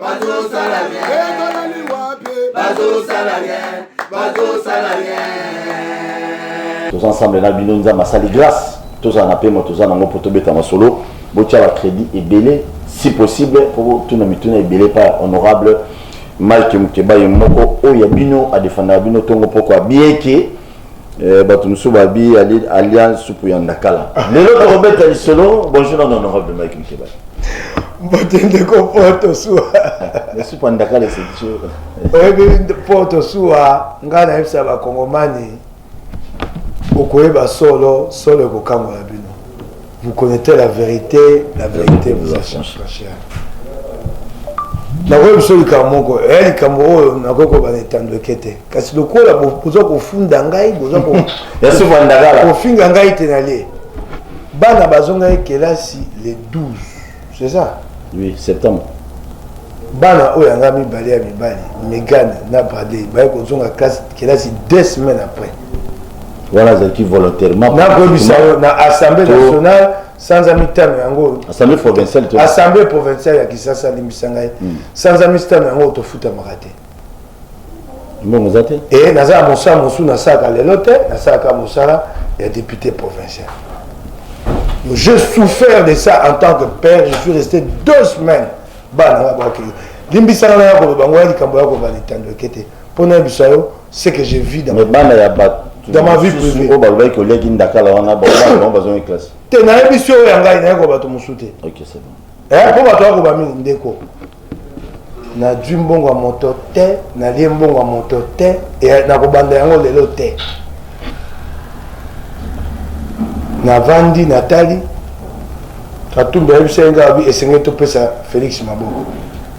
bazosala rien ezalali wapi bazosala rien bazosala rien toza ensemble na bino nzambe asali grâce tozala na pema toza nango mpo tobeta masolo botya bacrédit ebele si possible mpo botuna mituna ebele pa honorable mike mukeba ye moko oyo ya bino adefandaka bino ntongo mpokwa bien ke Eh, bato mosusu babi alia supu ya ndakala lelo tokobeta lisolo bonjour na honorable mike mkeba bakende ko poto suwa supu ya ndakala eseki oyebi poto suwa ngai nayebisa bakongomani okoyeba solo solo ekokangola bino Vous connaissez la vérité, la vérité vous affranchira. nakoki biso likambo moko eya eh, likambo oyo nakoki koloba na etando eke te kasi lokola boza kofunda ngai boza kofinga ngai te nalie bana bazongaki kelasi le 12 c'est ça oui septembre bana oyo yanga mibale ya mibali megan na bradley baye kozonga classe kelasi deux semaines après wana azalaki volontairement nakoyebisa yo na assemblée nationale sanza mitano yango assemblée provinciale assemblée provinciale ya kisasa alimbisa ngai hmm. sanza mitano yango tofutamaka te mbongo eza te e naza ya mosala mosusu nasalaka lelo te nasalaka mosala ya député provincial je souffert de ça en tant que père je suis resté deux semaines bana nga baoke limbisaka na ya koloba ngo ya likambo ya koloba litando eke te mpo nayebisa yo ce que je vis dans bana ya bato dans ma vie privée oyo oh, balobaki koliaki ndakala wana bango bazongi classe te nayebisi oyo ya ngai nayekoba bato mosusu te ok c'est bon eh, mpo bato akoba mingi ndeko nazwi mbongo ya moto te nalie mbongo ya moto te eh, nakobanda yango lelo te navandi natali katumbi ayebisa ye ngai esengeli topesa félix maboko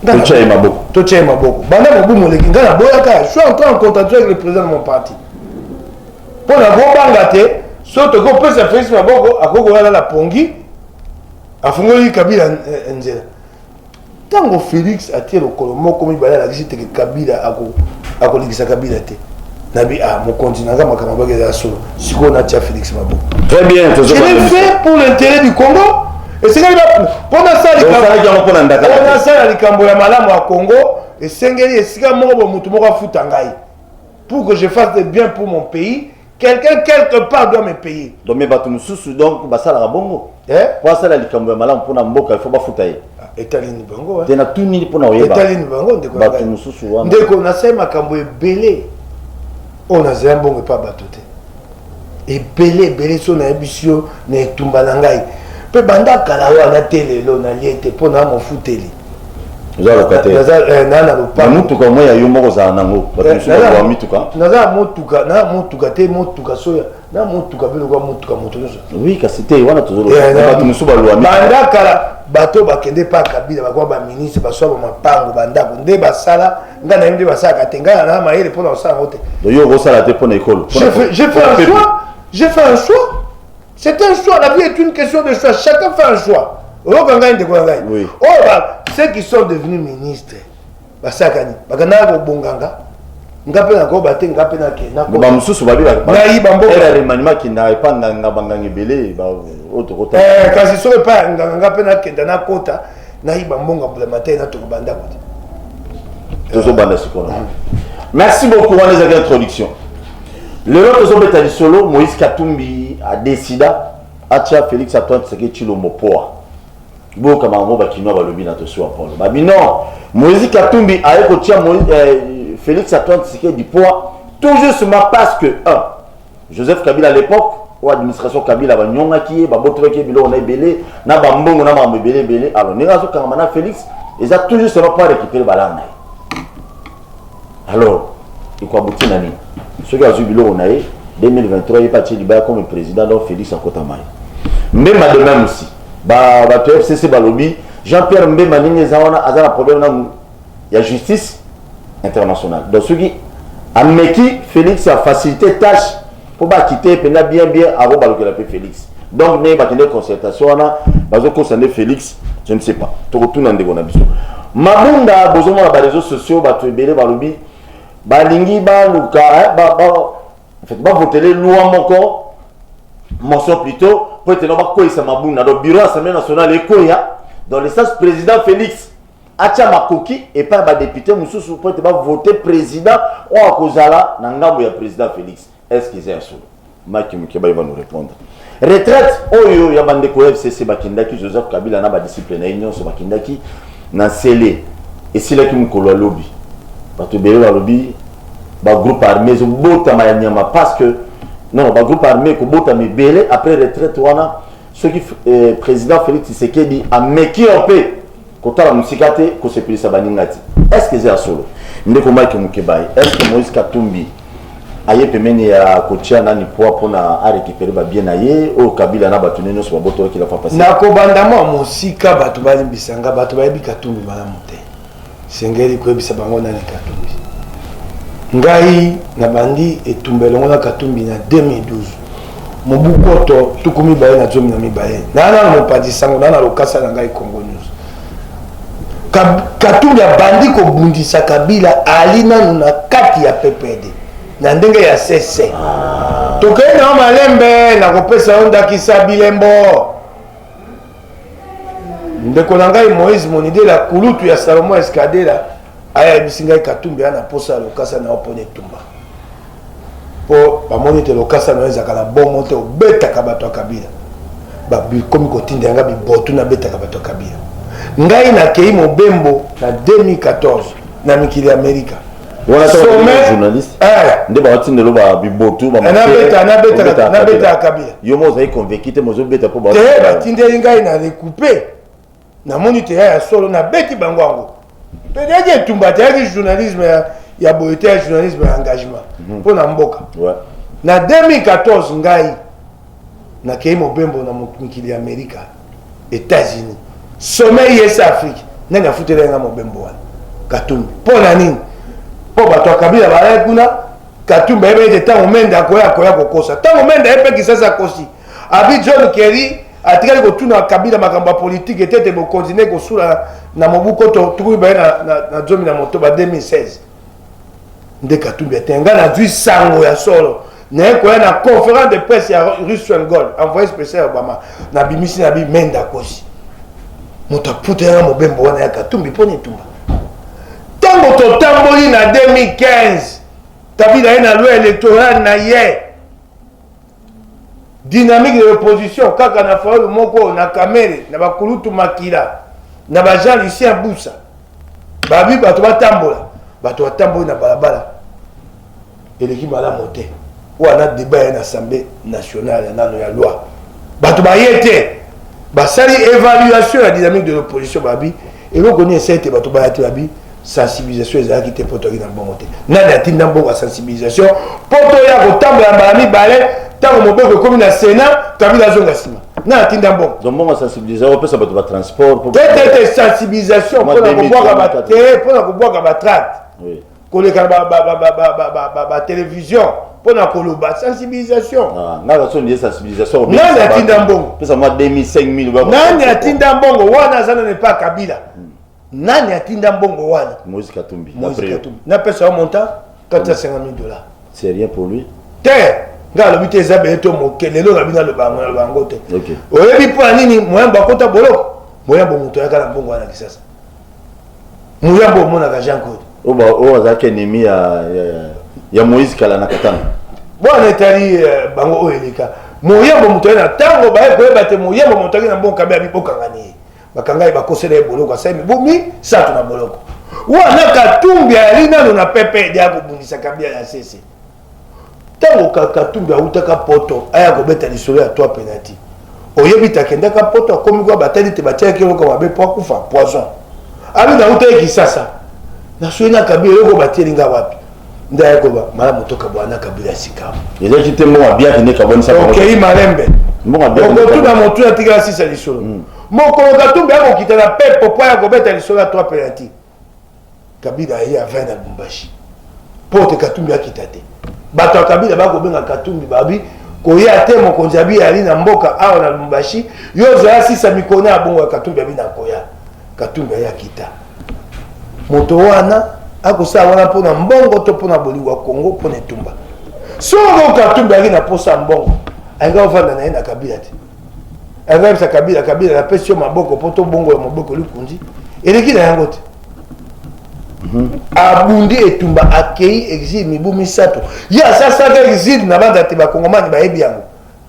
totya ye maboko totya ye maboko banda mobu moleki ngai naboyaka je suis encore en contradiction avec le président de mon parti mpo nakobanga te so toki kopesa félix maboko akoki kolala na pongi afungoli kabila nzela ntango félix atie lokolo moko mibale alakisi teke kabila akolekisa kabila te nabi ah mokonzi naza makambo abaki eza solo sikoyo natia félix maboko très bien fait pour l'intérêt du congo esengeli mpo nasala likambo ya malamu ya congo esengeli esika moko bo motu moko afuta ngai pour que je fasse de bien pour mon pays quelqu'un quelque part doit me payer donc mais bato mosusu donc basalaka bongo eh? po asala likambo ya malamu mpona mboka ifo bafuta ye ah, etalini bango te natunini mpona oyebaetalini bango ndekobato mosusu wana ndeko nasali makambo ebele oyo nazela mbongo epa bato te ebele ebele so nayebisi yo na etumba na ngai mpe banda kala wana te lelo nalie te mpo na mofuteli oza locataire naza eh, na na lopa mutuka moi ya yo moko za nango bato eh, mosusu ba mituka naza motuka na motuka te motuka soya na motuka pe lokola motuka moto nyonso oui kasi te wana tozoloba eh, bato mosusu balwa banda kala bato bakende pa kabila bakoya baministre baswa bamapango bandako nde basala ngai nayebi nde basalaka te ngai na mayele mpo na kosala yango te yo okosala te mpo na ekolo j'ai fait un choix j'ai fait un choix C'est un choix, la vie est une question de choix. Chacun fait un choix. oyoka ngai ndeko na ngai oyo ceux qui sont devenus ministre basakani bakandaka kobonganga nga mpe nakoba te nga mpe nakenabamosusu babibayibanboaremanima kinda epa nganga banganga ebele oyo tokota eh, kasi soki epa nganga nga mpe nakenda nakota nayiba mbongo ya bulamatari na toko banda kote tozobanda sikoyo na merci beaucoup wana ezalaki introduction lelo tozobeta lisolo moïse katumbi adesida atia félix antoine tseke tshilombo poa boyoka makambo bakinois balobi na tosi wa polo babi non moïse katumbi aye kotia eh, félix antoine tseke dipoa tout justement parce que un Joseph Kabila à l'epoque oyo administration Kabila banyongaki ye babotolaki ye biloko na ebele na bambongo na makambo ebele ebele alors ndenge azokangama na Felix eza toujours seulement pas récupérer balanga na ye alors ekoabuti na nini soki azwi biloko na ye 2023 ye mpe atie libaya comme président donc Felix akotama ye mbemba de même aussi bato ya fcc balobi jean pierre mbemba ndenge eza wana aza na problème na ya justice internationale donc soki ameki félix afacilite tâche mpo bakite ye mpenza bien bien akobalukela mpe félix donc ndenge bakende concertation wana bazokosa nde félix je ne sais pas tokotuna ndeko na biso mabunda bozomona bareseau sociaux bato ebele balobi balingi baluka eh, bavotele loi moko motion plutôt mpo ete no bakweyisa mabunda donc bureau assemblée nationale ekweya dans le sens président félix atya makoki epai ya badepute mosusu mpo ete bavote president oyo akozala na ngambo ya president Felix. Est-ce que eza ya solo? Mike Mukebay va nous répondre. Retraite oyo ya bandeko ya FCC bakendaki, Joseph Kabila na badisciple na ye nyonso bakendaki na nsele, esilaki mokolo ya lobi. Bato ebele balobi bagroupe armé ezobotama ya nyama parce que non bagroupe armé ekobotama ebele après retraite wana soki eh, président Félix Tshisekedi ameki un peu kotala mosika te kosepelisa baninga te eske eza ya solo ndeko mike mokebaye eske moïse katumbi aye pembeni ya kotia nani poi mpo na arekipere babie na ye oyo kabila na bato ne nyonso babotolaki la fapasi na kobanda mwa mosika bato balimbisa nga bato bayebi katumbi malamu te sengeli koyebisa bango nani katumbi ngai nabandi etumba elongo na katumbi na 2012 mobu koto tuku mibale na zomi na mibale naa nano mopanzi sango naa na lokasa na ngai congo news katumbi abandi kobundisa kabila ali nano na kati ya ppd na ndenge ya sese tokei nao malembe nakopesa yo ndakisa bilembo ndeko na ngai moïse monidela kulutu ya salomon escadela aya ayebisi ngai katumbi aya na mposa ya lokasa na yo mpona etumba mpo bamoni ete lokasa na yo ezalaka na bongo te obetaka bato ya kabila bakomi kotinda yanga bibotu nabetaka bato ya kabila ngai nakei mobembo na 2014 na mikili ya amerika nde baotinda elo babibotu nabetaka kabila yo mo ozali convaincu te mozobeta mpo batindeli ngai na recoupe namoni teya ya solo nabeti bango yango mpe eyaki etumba te eyaki journalisme ya ya boye te ya journalisme ya engagement mpo mhm. na mboka na 2014 ngai nakei mobembo na mikili ya amerika Etats-Unis sommet IS Afrique nani afutela nga mobembo wana Katumbi mpo na nini mpo bato ya Kabila balaki kuna Katumbi ayebi ete ntango Mende akoya akoya kokosa ntango Mende ayebi mpe Kisasa akosi abi John Kerry atikali kotuna Kabila makambo ya politiki ete ete bokonzi nde kosula na mobu koto tukumi baye na zomi na motoba 2016 nde katumbi ete ngai nazwi sango ya solo naye koya na conférence de presse ya russell gold envoyé spécial ya obama nabimisi na bi menda kosi moto aputa yanga mobembo wana ya katumbi mpo na etumba ntango totamboli na 2015 kabila ye na loi électorale na ye Dynamique de l'opposition kaka na Fayulu moko na Kamere na ba kulutu makila na ba Jean Lucien Busa babi bato batambola bato batamboli na balabala eleki malamu te wana deba ya na assemblée nationale ya nano ya loi bato baye te basali évaluation ya dynamique de l'opposition babi eloko nini esali te bato bayaki babi sensibilisation ezalaki te mpo toyaki na mbongo te nani atinda mbongo ya sensibilisation mpo toya kotambola mbala mibale ntango mobeko ekomi na senat kabila azonga nsima nani atinda mbongo donc mbongo ya sensibilisation opesa bato batransport te te te sensibilisation mpo na kobwaka te mpo na kobwaka batracte koleka na batelevizio mpo na koloba sensibilisation ah, ngai nasoni ye sensibilisation nani atinda mbongo pesa mwa 2000 nani atinda mbongo wana aza nani epa kabila hmm. nani atinda mbongo wana moise katumbi napesa yo montant 450 000 dollars c'est rien pour lui te ngai alobi te eza beye to moke lelo na bino aloba yango na bango te oyebi mpo ya nini moyambo akota boloko moyambo moto ayaka na mbongo wana kisasa muyambo omonaka jean claude oyo azalaki ennemi ya, ya, ya, ya moïse kala na katana bwana etali uh, bango oyo eleka moyambo moto aye na ntango baye koyeba te moyambo moto ake na mbokabe abi bokangani ye bakanga ye bakosela ye boloko asali mibu misato na boloko wana katumbi ayali nano na pepe edi akobundisa kabia ya sese Tango ka Katumbi awutaka Poto aya kobeta lisolo ya trois penalty. Oyebi te akendaka Poto akomi kwa batali te batiaki eloko mabe po akufa poison. Abi nawutaki Kisasa. Nasuye na Kabila eloko batieli nga wapi? Nde aya koba malamu tokabwana na Kabila sikawa. Ezalaki te mbongo abiaki nde kabwanisa bango. Okei malembe. Mbongo abiaki nde Okotuna kabwanisa. motu atikala sisa lisolo. Mokolo Katumbi akokita na pepo po aya kobeta lisolo ya trois penalty. kabila aye avin na bumbashi mpo te katumbi akita te bato ya kabila bakobenga katumbi babi koya te mokonzi abi ali na mboka awa na lumbashi yo ozala sisa mikona ya bongo ya katumbi abi na koya katumbi aye akita moto wana akosala wana mpo na mbongo to mpo na bolingo ya kongo mpo na etumba soko katumbi ayaki na mposa ya mbongo ayinga ofanda na ye na kabila te Aza kabila kabila na pesi yo maboko poto bongo ya maboko likundi eleki na yango te mhm. abundi etumba akei exile mibu misato ye asasaka exile na banda te bakongomani bayebi yango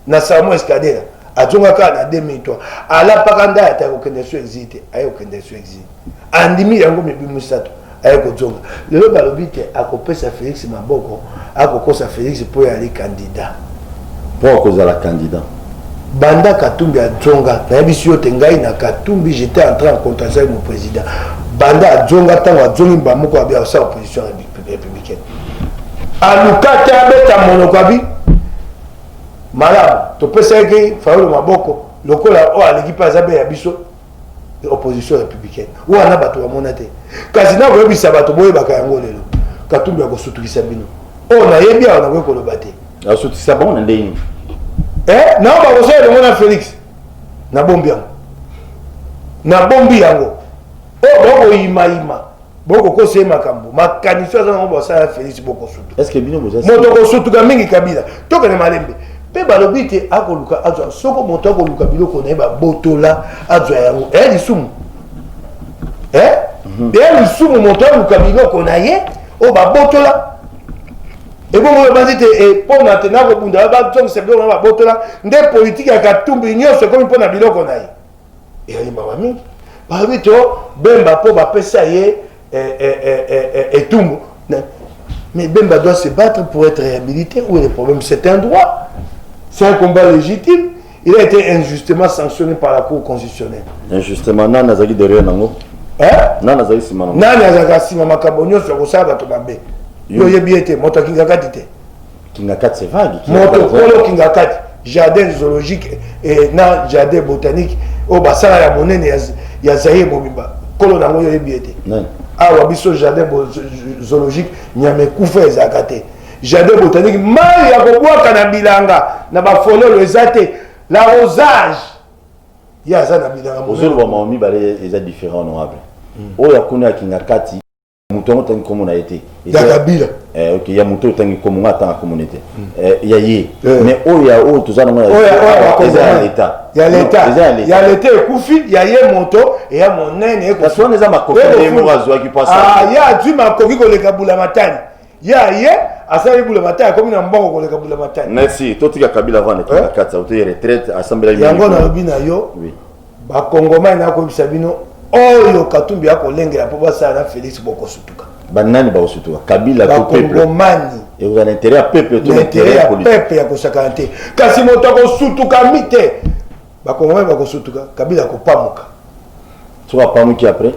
na salmo escadela azongaka na 2003 alapaka ndai ata kokende so exile te aye kokende so exile andimi yango mibu misato aye kozonga lelo balobi te akopesa felix maboko akokosa felix mpo ye ali kandida mpo akozala kandida banda katumbi azonga nayebisi yo te ngai na katumbi jete entra en contraction avec mon président banda azonga ntango azongi mbaa moko abi akosala opposition républicaine aluka te abeta monoko abi malamu topesaki fayolo maboko lokola oyo aleki mpe aza be ya biso opposition républicaine wana bato bamona te kasi nakoyebisa bato boyebaka yango lelo katumbi akosutukisa bino oyo nayebi awa nakoki koloba te asutisa bango na ndenge nini eh, nao bakosala elongo na félix nabombi yango nabombi yango oyo bakoyimayima bokokosa ye makambo makanisi oyo aza nango basala ya felisi bokosutumoto kosutuka mingi kabila tokende malembe mpe balobi te akoluka azwa soko moto akoluka biloko na ye babotola azwa yango eya eh, lisumu eya eh? mhm. eh, lisumu moto aluka biloko na ye oyo babotola ebongo oyo banzi te mpona te nakobunda bazongisa biloko na babotola nde politiki ya katumbi nyonso ekomi mpo na biloko na ye ezali mawa mingi balobi to bemba mpo bapesa ye eh, eh, eh, etumbu mais bemba doit se battre pour être réhabilité où est le problème c'est un droit c'est un combat légitime il a été injustement sanctionné par la cour constitutionnelle injustement nani azalaki derrière nango nani azali nsima nango nani azalaka nsima makambo nyonso ya kosala bato mabe yo oyebi ye te moto akingaka ti te Kingakati c'est vague. Moto kolo Kingakati, jardin zoologique et na jardin botanique au basala ya monene ya, ya Zaire mobimba. Kolo nango yo yebi ete. Awa biso jardin zoologique nyame kufa ezalaka te. Jardin botanique mai ya kobwaka na bilanga na bafololo eza te. La rosage ya aza na bilanga. Ozoloba maomi bale eza différent honorable. Hmm. Oyo akuna ya Kingakati moto yango otangi nkombo na ye te ya kabila eh, okay. ya moto otangi nkombo ngai atanga nkombo ne te hmm. eh, ya ye eh. mais oyo ya oyo toza nango eza ya leta ya leta ya leta ekufi ya ye moto eya monene wana eza makoki ye moko azwaki mpasa ah, ye azwi makoki koleka bula matani ye aye asali bulamatai akomi na mbongo koleka bulamatai merci totika kabila avant ekenda eh? kati autoye retraite asambelaki yango nalobi na yo bakongomani nakoyebisa bino oyo katumbi akolengela mpo basala na felix bokosutuka banani bakosutuka kabila bakongomani ekozala na interet ya peuple to na interet ya politique ya kosakana te kasi moto akosutukami te Ba congolais bako sutuka kabila ako pamuka. Soki apamuki après?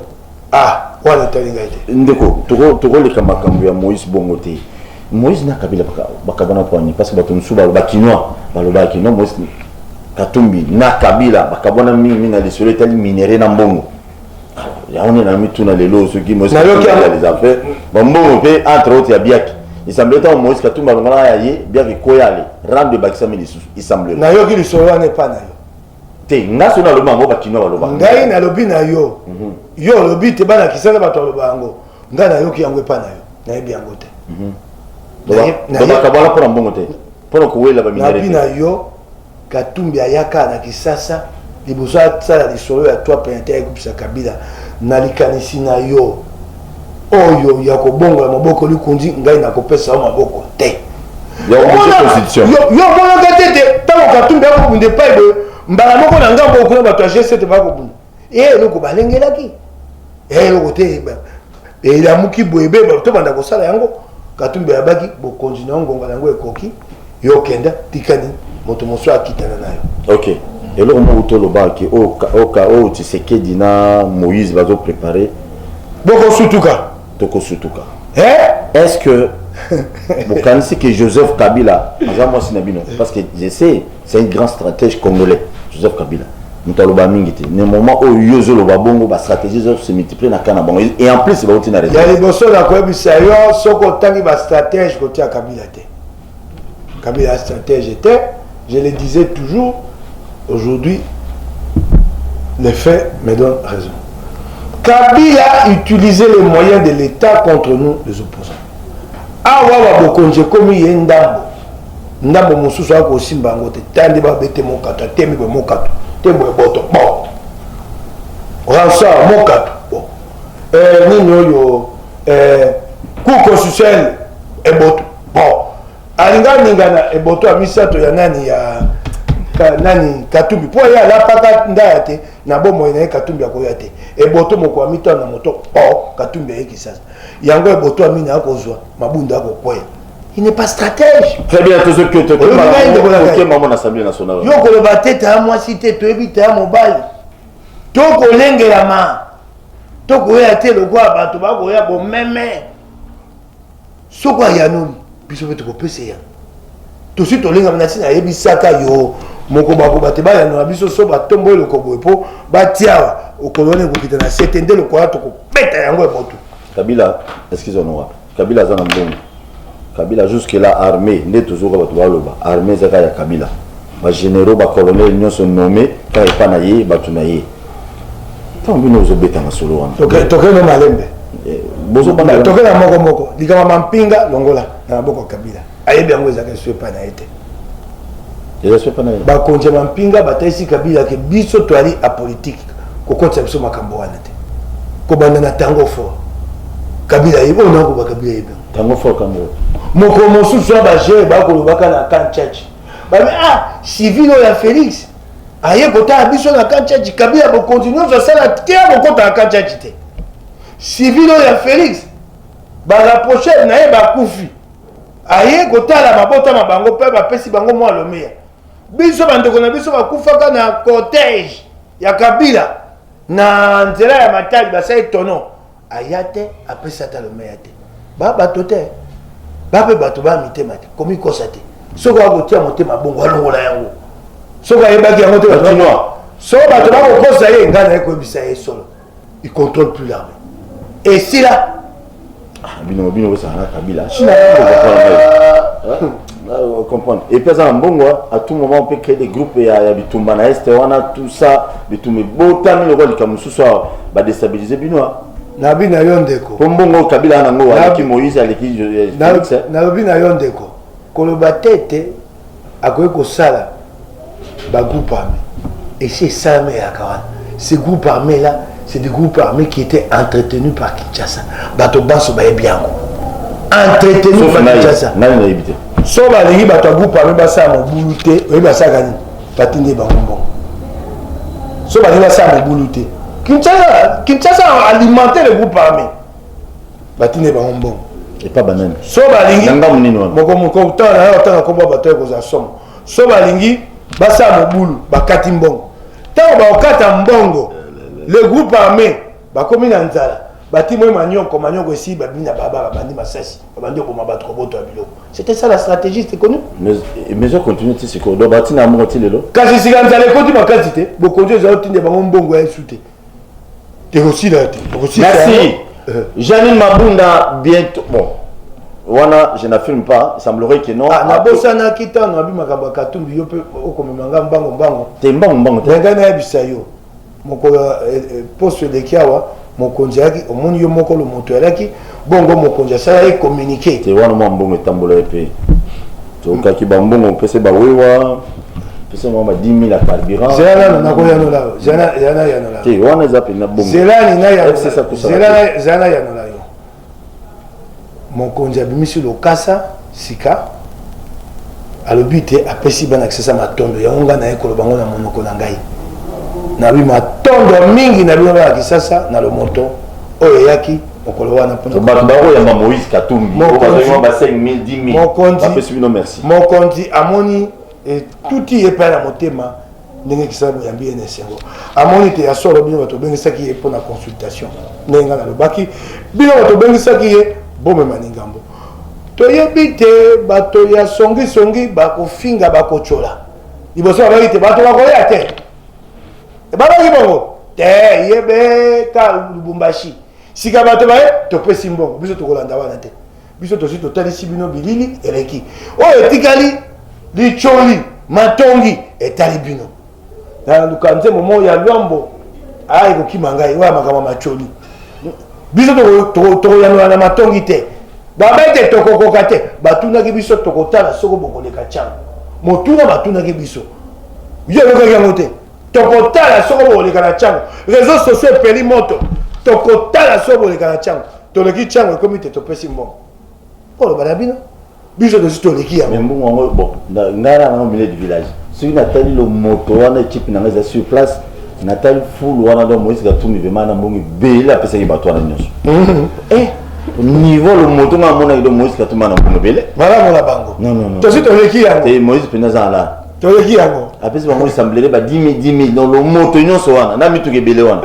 Ah, wana etali ngai te. Ndeko, toko toko leka makambo ya Moïse bongo te. Moïse na kabila baka bakabana poani parce que bato mosusu ba kinois balobaki non Moïse Katumbi na kabila bakabwana mingi mingi na lisolo etali minerais na mbongo. yango nde na mituna lelo soki moise Nayoki katumbi yango. les affaires bambongo mpe entre autres ya biaki esemble ntango moise katumbi alongalaka ya ye biaki koya ale rando ebakisami lisusu esemble nayoki lisolo wana epa na yo te nga so nalobi yango bakinois balobaka ngai nalobi na yo yo olobi te bana kisana bato aloba yango ngai nayoki yango epa na yo nayebi yango te Naye- naye- bakabwana mpo na mbongo te pona kowela baminere nabi na yo katumbi ayaka na kisasa liboso asala lisolo ya toi penate ayekupisa kabila na likanisi na yo oyo ya kobongola maboko likunzi ngai nakopesa yo maboko te yo omonaka te te ntango katumbi akobunda epai boye mbala moko na ngambo okuna bato ya g7 bakobunda e eloko balengelaki e eloko te elamuki boye be tobanda kosala yango katumbi ayabaki bokonzi na yo ngonga na yango ekoki yo okenda tikani moto mosusu akitana na yo okay. eloko moko tolobaki oyo tshisekedi na moïse bazoprépare bokosutuka tokosutuka eh? est ce que bokanisi ke joseph kabila aza mwasi na bino parce que je sais C'est un grand stratège congolais, Joseph Kabila. moto aloba mingi te ne moment oyo yo ozoloba bongo bastratégie ezose multiplie na ka na bango et en plus bauti na reseau ya liboso na koyebisa yo soki otangi bastratège kotia kabila te kabila stratège te je le disais toujours aujourd'hui les faits me donnent raison kabila utiliser les moyens de l'état contre nous les opposants awa babokonzi ekomi ye ndambo ndambo mosusu aya kosimba yango te ta nde babete mokato atemi boye mokato tembo ya boto bo ransar mokato bo eh, nini oyo eh, cour constitutionnel eboto bo alinga aningana eboto ya misato ya nani ya ka, nani katumbi mpo ye alapaka ndaya te na bomoi na ye katumbi akoya te eboto moko ya mitano na moto bo katumbi ayekisasa yango eboto ya mini akozwa mabunda akokwea il n'est pas stratège très bien tozo que to kema ko kema mon assemblée nationale yo ko ba tete à moi cité to ebi ta mobile to ko lengela ma to ko ya te le quoi ba to ba ko ya bo meme soko ya non biso pe to ko pese ya to si to lenga na sina yebi saka yo moko ba ko ba te ba ya na biso so ba tombo le ko bo po ba tia o kolone ko kitana sete ndelo ko ya to ko beta yango e botu kabila excuse-moi Kabila aza na mbongo. Kabila jusque là armée nde tozoka bato baloba armée ezaka ya Kabila. Ba généraux ba colonels nyonso nommé ka epa na ye bato na ye. Tant bino ozobeta masolo wana. Toke toke no malembe. Eh, bozo bana toke na moko moko likama mampinga longola na maboko Kabila. Ayebi yango ezaka esu epa na ye te. bakonzi ya mampinga batalisi kabila ke biso toali apolitike kokotisa biso makambo wana te kobanda na tango fort kabila yebi ona koba kabila yebi tango fort kambo moko mosusu ya bajeune bakolobaka na kan chachi babi ah civil oyo ya félix aye kotala biso na kan chachi kabila bokonzi nyonso asala te akokota na kan chachi te civil oyo ya félix barapproche na ye bakufi aye kotala mabota ma bango mpe bapesi bango mwa lomeya biso bandeko na biso bakufaka na cortège ya kabila na nzela ya matali basali tono aya te apesi ata lomeya te ba bato te bape bato baya mitema te komikosa te soki akotia motema bongo alongola yango soki ayebaki yango te batinoa so bato bakokosa ye ngai naye koyebisa ye solo il contrôle plus l'armée et c'est là ah, bino bino bosala na kabila china comprendre et puis aza na mbongo à tout moment on peut créer des groupes ya, ya bitumba na este wana tout ça bitumba ebotami lokola likambo mosusu awa badestabilise bino nalobi na yo ndeko mpo mbongo kabila nango aleki moïse aleki nalobi na yo ndeko koloba te ete akoki kosala ba groupe armé esi esalama eyaka wana ce groupe armé là c'est des groupes armés qui étaient entretenus par kinshasa bato banso bayebi yango entretenus par kinshasa so balingi bato ya groupe armé basala mobulu te oyebi basalaka nini batindi bango mbongo so balingi basala mobulu te kinshasa alimente le groupe armé batine bango mbongo epa banani so balingi mokomoko otala na yo otala kombo bato ya kozala somo so balingi basala mobulu bakati mbongo ntango bakokata mbongo le groupe armé bakomi na nzala batimo manyoko manyoko esi babi na baba babandi masasi babandi oboma bato koboto ya biloko c'était ça la stratégie c'est connu mais je continue ti sikoyo donc batina mbongo ti lelo kasi sika nzala ekoti makasi te bokonzi ezali otinde bango mbongo ya esu te ekosila te ekosila merci yango. Eh. janine mabunda bientôt bon wana je n'affirme pas il semblerait que non Ah, nabosanaki ntango abi makambo ya katumbi yo mpe okomema nga mbango mbango te mbango mbango te ngai nayebisa yo mokolo ya, eh, eh, poso eleki awa mokonzi ayaki omoni yo moko lomoto alaki bongo mokonzi asala ye communiqué te wana mwa mbongo etambola ye mpe tokaki bambongo mpese bawewa pesa mwa ba 10 000 ya carburant zela nano nakoyanola yo zela nayanola te wana eza mpenza bongo zela nayanola yo mokonzi abimisi lokasa Sika, alobi te apesi bana kisasa matondo yango ngai naye koloba ngo na monoko na ngai nabi matondo mingi na bino bana kisasa na lomoto oyo eyaki mokolo wana mponabato bakoyamba moïse katumbi mokonzi amoni etuti eh, ye epai na motema ndenge kisala boyambi ye na esengo amoni te ya solo bino bato obengisaki ye mpo na consultation ndenge ngai nalobaki bino bato obengisaki ye bomema lingambo toyebi te bato ya songisongi bakofinga bakotyola liboso babaki te bato bakoya te ebabaki bongo te ye beta lubumbashi sika bato baye topesi mbongo biso tokolanda wana te biso tosi totalisi bino bilili eleki oyo etikali licholi matongi etali bino na luka nzembo moko ya lwambo aya ekokima ngai oyo ya makambo ya macholi biso tokoyanola na matongi te baba ete tokokoka te batunaki biso tokotala soko bokoleka cana motuna batunaki biso yo oyokaki yango te tokotala soko bokoleka na ntango réseau sociaux epeli moto tokotala soko bokoleka na ntango toleki chango ekomi te topesi mbongo oloba na bino biso tosi toleki yango mbongo yango bon ngai na nango milieu du village soki natali lomoto wana ekipe na ngai eza sur place natali fulu wana donc moïse katumbi vraimen na mbongo ebele apesaki bato wana nyonso mhm. eh, niveau lomoto ngai amonaki donc moïse katumbi ana mbongo ebele malamu na bango tosi toleki yango eh, moïse mpenza aza alaa toyeki yango apesi bango esamblele ba 10 000 10 000 donc lomoto nyonso wana na mituka ebele wana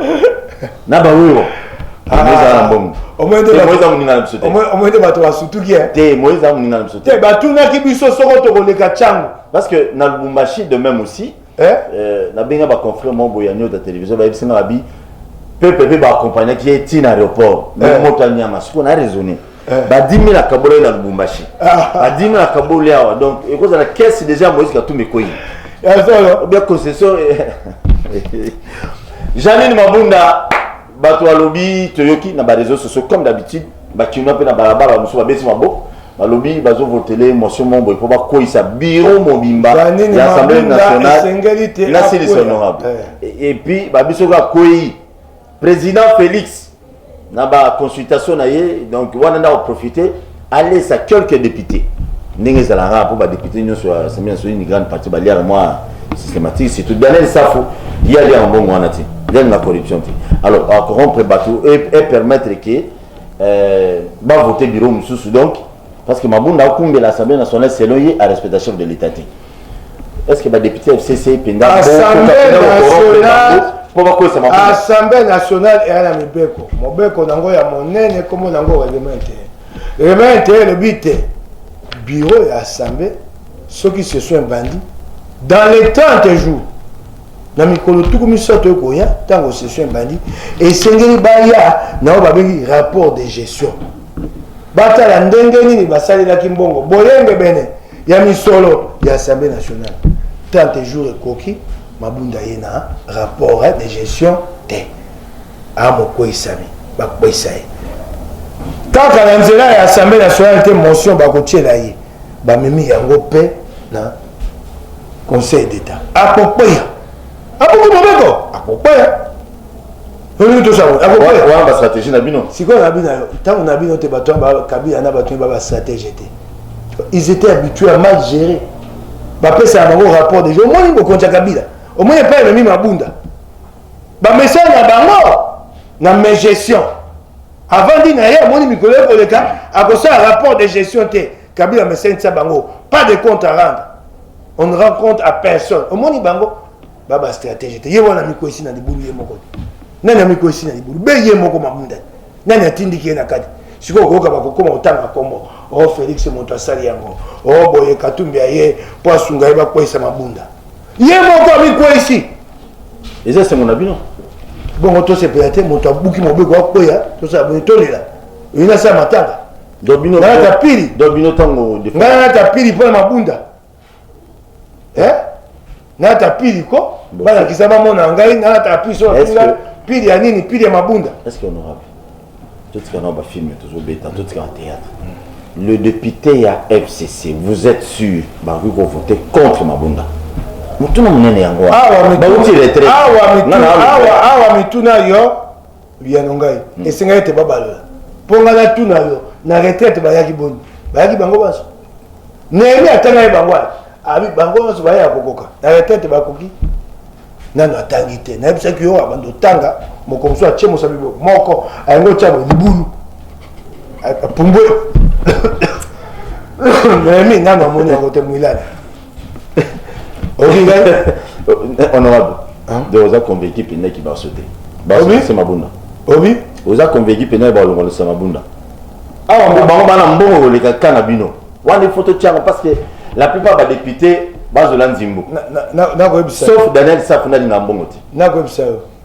na bawewa omoyende bato basutuki te moïse a moninga na biso te batunaki biso soko tokoleka ntango parce que na lubumbashi de même aussi eh? euh, nabenga baconfrère moko boye ya nioto ya télévision bayebisi nga babi pepe mpe baakompagnaki ye ti na aéroport eh. moto anyanga sikoyo na raisonne Eh. ba 10 000 akabolaki na lubumbashi ah. ba 10 000 akaboli awa donc ekozala kesi déjà moïse katumbi ekoyi obia concession eh. janine mabunda bato balobi toyoki na bareseau sociaux comme d'habitude bakinois mpe na balabala bamosusu babesi maboko balobi bazovotele motion mombo mpo bakweyisa biro mobimba ya assemblée nationale nasilisi honorable eh. epuis babiso kaka kwei President Felix na ba consultation na ye donc wana nda koprofite alesa quelques députés ndenge ezalaka mpo badepute nyonso ya assemblée nationale une grande partie baliaka mwa systématique surtout daniel safu ye aliaka mbongo wana te ndenge na corruption te alors akorompre bato e permettre ke euh, bavote biro mosusu donc parce que mabunda akumbela assemblée nationale selon ye arespecta chef de l'état te est ce que badepute ya fcc mpenza mpo bakwesa mabunda assemblée nationale eya na mibeko mobeko nango ya monene nkombo nango règlement te règlement te elobi te bureau ya assemblée soki ce sont bandi dans les 30 jours na mikolo tuku misato ekoya ntango session ebandi esengeli baya na oyo babengi rapport de gestion batala ndenge nini basalelaki mbongo boyengebene ya misolo ya assemblée nationale 30 jours ekoki mabunda ye na rapport eh, de gestion te amokweisami bakweisa ye kaka na nzela ya assemblée nationale te motion bakotyela ye bamemi yango mpe na conseil d'état akokweya akoki mobeko akokweya olingi tosala wana bastratégie na bino sikoyo na bino ntango na bino te bato kabila na bato ba bastratégie te ils étaient habitués à mal gérer bapesaka bango rapport déjà omoni bokonzi ya kabila omoni epai ememi mabunda bamesana na bango na mes gestion avandi na ye amoni mikolo ekoleka akosala rapport de gestion te kabila amesanisa bango pas de compte à rendre on ne rend compte à personne omoni bango ba ba stratégie te ye wana mikwesi na libulu ye moko te nani amikwesi na libulu be ye moko mabunda nani atindiki ye na kati sikoyo koyoka bakokoma kotanga nkombo o oh, félix moto asali yango o oh, boye katumbi aye mpo asunga ye bakweyisa mabunda ye moko amikweyisi eza esengo na bino bongo tosepela te moto abuki mobeko akweya tosala boye tolela oyi nasala matanga nayata pili ngai nayata pili mpo na mabunda eh? nata pili ko balakisa bamona ya ngai nata pili so bafinga pili ya nini pili ya mabunda totika nao bafilme tozobeta totika na théâtre hmm. le député ya fcc vous êtes sûr bakoki kovote contre mabunda motuna monene yango awa mituna yo biyano ngai mm. esengai ete babalola mpo ngai natuna yo na retraite bayaki boni bayaki bango banso nehemi atanga ye bango wana abi bango nyonso baya ya kokoka na retraite bakoki nano atangi te nayebisaki yo abanda otanga moko mosusu atie mosabi moko ayango otya boye libulu apumbwe nehemi nano amoni yango te mwilana honorable donc oza convaincu mpena ki barso te barso mabunda obi oza convaincu mpena balongolisa mabunda awa ah, bango bana mbongo koleka ka na bino wana ifo totyaka parce que la plupart badepute bazola nzimbu sauf daniel safu nalinga mbongo te nakoyebisa yo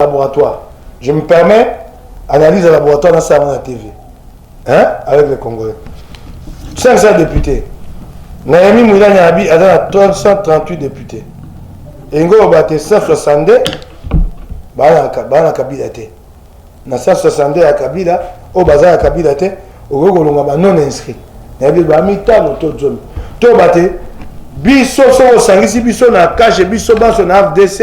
laboratoire je me permets analyse ya laboratoire na sala na tv hein avec les congolais 500 députés nayemi mwilani abi aza na 338 députés elingi oloba te 162 baa na kabila te na 162 ya kabila oyo baza ya kabila te okoki kolonga ba non inscrit nayebi ba mitano to zomi toyeba te biso soki osangisi biso na kashe biso banso na fdc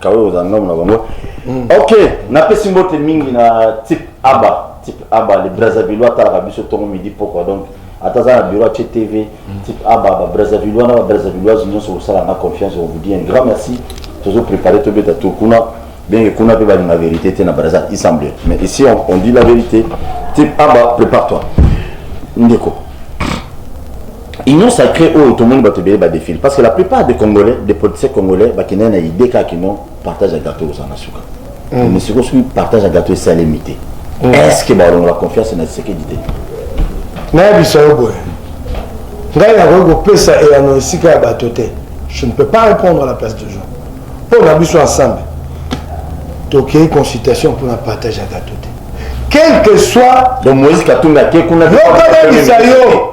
kawe oza ndomo na bango mm. ok napesi mbote mingi na type aba type aba le brazzaville atalaka biso ntongo midi pokwa donc ata aza na bureau atie tv mm. type aba ba brazzaville wana ba brazzavilloise nyonso kosala na confiance on vous dit un grand merci tozo prépare tobeta to kuna bien que kuna mpe balinga vérité te na brazza il semble mais ici on, on dit la vérité type aba prépare toi ndeko union sacrée oyo tomoni bato ebele badefile parce que la plupart des congolais des politiciens congolais bakendaki na idée kaka kino partage ya gato ekozala na suka mm. mais sikoyo soki partage ya gato esalemi te mm. est ce que balongola confiance na tshisekedi te nayebisa yo boye ngai nakoki kopesa eyano esika ya bato te je ne peux pas répondre à la place de gens mpo na biso ensemble tokei consultation mpo na partage ya gato te quel que soit donc moïse katumbi ake kuna yokanabisa yo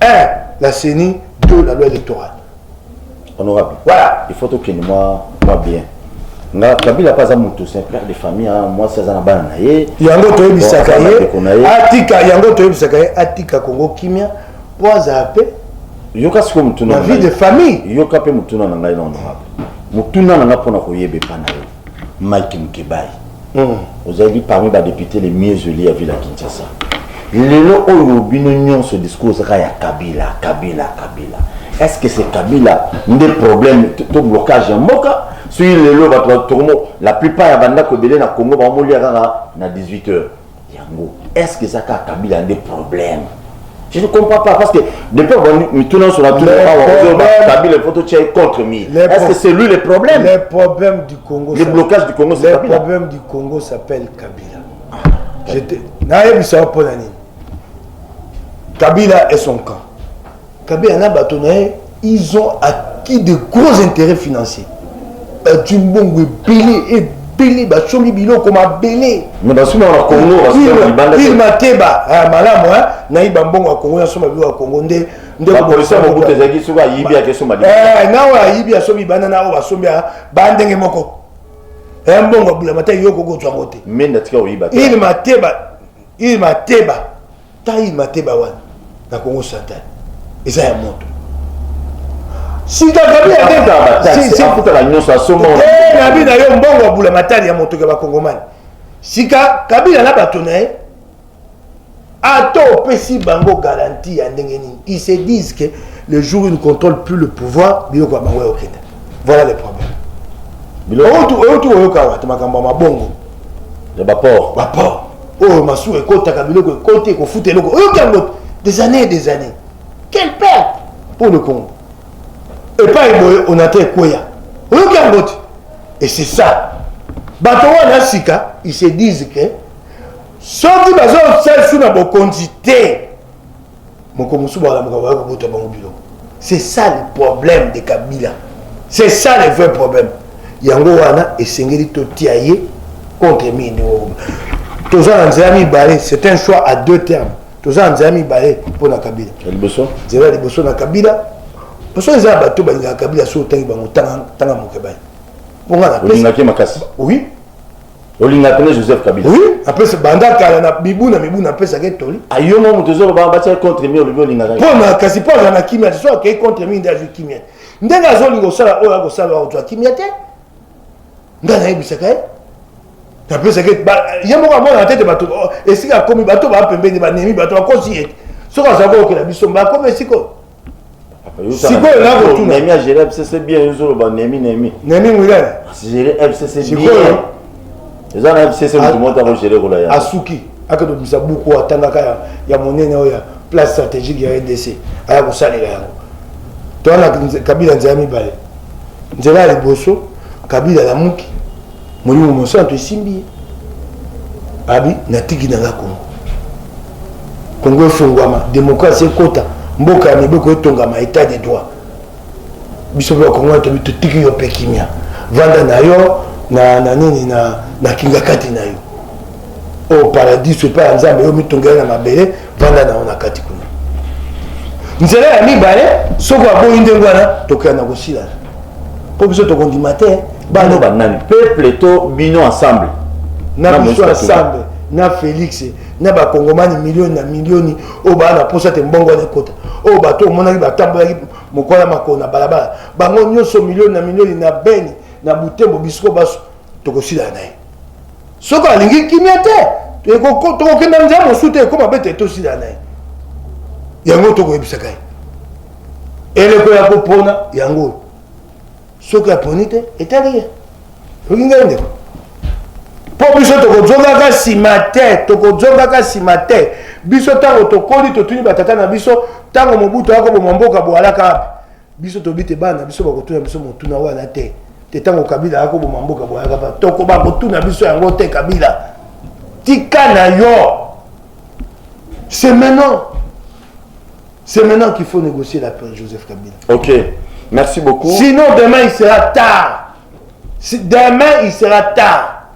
un la ceni deux la loi électorale honorable voilà il faut tokende mwa mwa bien nga kabila mpe aza moto c'est un père de famille mwasi aza na bana na ye yango toyebisaka ye atika yango toyebisaka ye atika kongo kimia mpo azala mpe yoka sikoyo motuna vie de famille yoka mpe motuna na ngai na honorable motuna na ngai mpo na koyeba epa na yo Mike Mukebayi mm. ozali parmi ba députés les mieux élus ya ville ya Kinshasa lelo oyo bino nyonso discours ezaka ya Kabila Kabila Kabila est-ce que c'est Kabila nde problème to blocage ya mboka soki lelo bato la plupart ya bandako ebele na Congo bamoliya kaka na 18 heures yango est ce que eza kaka kabila nde problème je ne comprends pas parce que depuis abandi mituna nyonso natuna awa kabila faut totya ye contre mille est ce que c'est lui le problème le problème du congo le blocage du congo c'est kabila le problème du congo s'appelle kabila ah, nayebisa yo mpo na nini kabila est son camp Kabeya na bato na ye ils ont acquis de gros intérêts financiers bazwi mbongo ebele ebele basombi biloko mabele il mateba malamu nayiba mbongo ya kongo nasomba biloko ya kongo nde naoyo ayibi asombi banda na oyo basombi ba ndenge moko eh, mbongo ya bulamata yoko kozwa yango te il mateba il mateba taille mateba wana na congo central eza ya moto sikakabila nyonso asomba eh, nabi na yo mbongo abula matali ya moto ya bakongomani sika kabila na bato na ye ata opesi bango garanti ya ndenge nini ils se disent que le jour ils ne contrôlent plus le pouvoir biloko ya bango ya okenda voilà le problème oyo tu oyoka wata makambo ya mabongo ya baport baport oyo masuwa ekotaka biloko ekoti ekofuta eloko oyoki yango des années des années quel père pour le congo epai boye onata ekweya oyoki yango te et c'est ça bato wana sika ils se disent que soki bazosalisu na bokonzi te moko mosusu balamuka baya kobota bango biloko c'est ça le problème de kabila c'est ça le vrai problème yango wana esengeli totia ye contre mii ndenge okoba toza na nzela mibale c'est un choix à deux termes toza na nzela mibale mpo na kabila nzela ya liboso na kabila parce que eza ya bato balingaka kabila soki otangi bango tanga moke baye mpo nga napesi oui olinga pene joseph kabila oui apesa banda kala na mibu na mibu napesaka etoli ayo mo moto ezoloba batia contre mi olobi olingaka mpona kasi mpo aza na kimia te so akei contre mi nde azwi kimia te ndenge azolinga osala oyo akosala akozwa kimia te nde anayebisaka ye napesaka ye moko amonaka te te bato oh, esika akomi bato baa pembeni banemi bato bakosi ye te soki azalaki okela biso mba akomi esika oyo sikoyo nakotuna nemi ya gere fcc bien yozoloba nemi nemi nemi mwilele gere fcc bien eza na fcc moto moto akogere kola ya asuki akende komisa buku oyo atangaka ya, ya monene oyo ya place stratégique ya rdc aya kosalela yango towana kabila nzela mibale nzela ya liboso kabila alamuki molimo mosantu esimbi ye abi natiki na nga kongo kongo efongwama demokrasi ekota mboka ya mibeko etongama etat de droit biso mpe bakongo tobi totiki yo mpe kimia vanda na yo na, na nini na, na kingakati na yo oyo oh, paradiso epai ya nzambe yo mitonga ye na mabele vanda na yo na kati kuna nzela ya mibale soki aboyi ndenge wana tokoya na kosilana mpo biso tokondima te baloba nani peuple to bino ensemble na biso ensemble na félix na bakongomani milioni na milioni oyo baa na mposa te mbongo wana ekota oyo bato omonaki batambolaki mokwala makolo na balabala bango nyonso milioni na milioni na beni na butembo bisiko baso tokosilana na ye soki alingi kimia te tokokenda nzela mosusu te ekoma bete tosila na ye yango tokoyebisaka ye eleko ya kopona yango oyo soki aponi te etali ye soki ngai ndeko mpo biso tokozongaka nsima te tokozongaka nsima te biso ntango tokoli totuni batata na biso ntango mobutu akoboma mboka boalaka wapi biso tobi te bana biso bakotuna biso motuna wana te te ntango kabila akoboma mboka boyaka ba toko bakotuna biso yango te kabila tika na yo c'est maintenant c'est maintenant qu'il faut négocier la paix joseph kabila ok merci beaucoup sinon demain il sera tard si demain il sera tard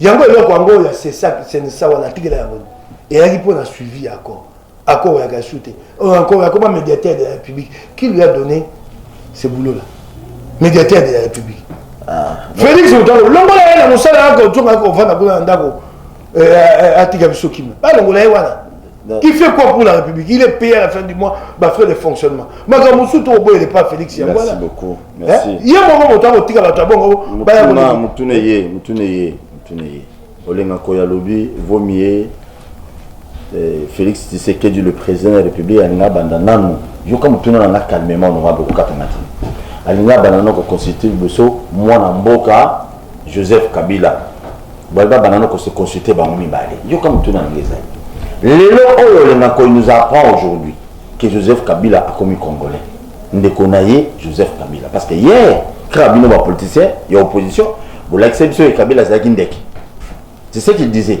yango eloko yango ya senisa wana atikela yango eyaki mpo na suivi ya accord accord oyaka esu te encore yakoma médiateur de la république qui lui a donné ce boulot là médiateur de la république ah, félix motango longola ye na mosala yako otonga kovanda kuna na ndako eh, eh, eh, atika biso kimia balongola ye wana il fait quoi pour la république il est payé à la fin du mois bafrais de fonctionnement makambo mosusu tokoboyele pa félix yango wana Merci. Eh, ye moko moto akotika bato ya bongo baya koleka. Mutune ye, mutune ye, mutune ye. Olenga koya lobi vaut mieux eh, Félix Tshisekedi le président de la République alinga banda nanu yoka mutuna na nga calmement no mabe kokata na ti. Alinga banda nanu ko consulter liboso mwana mboka Joseph Kabila. Balba banda nanu ko se consulter bango mibale. Yoka mutuna na nga ezali. Lelo oyo olenga koya nous apprend aujourd'hui que Joseph Kabila akomi congolais. ndeko na ye joseph kabila parce que hier kaka bino bapoliticien ya opposition bolakisa biso ye kabila azalaki ndeke c'est ce qu'il disait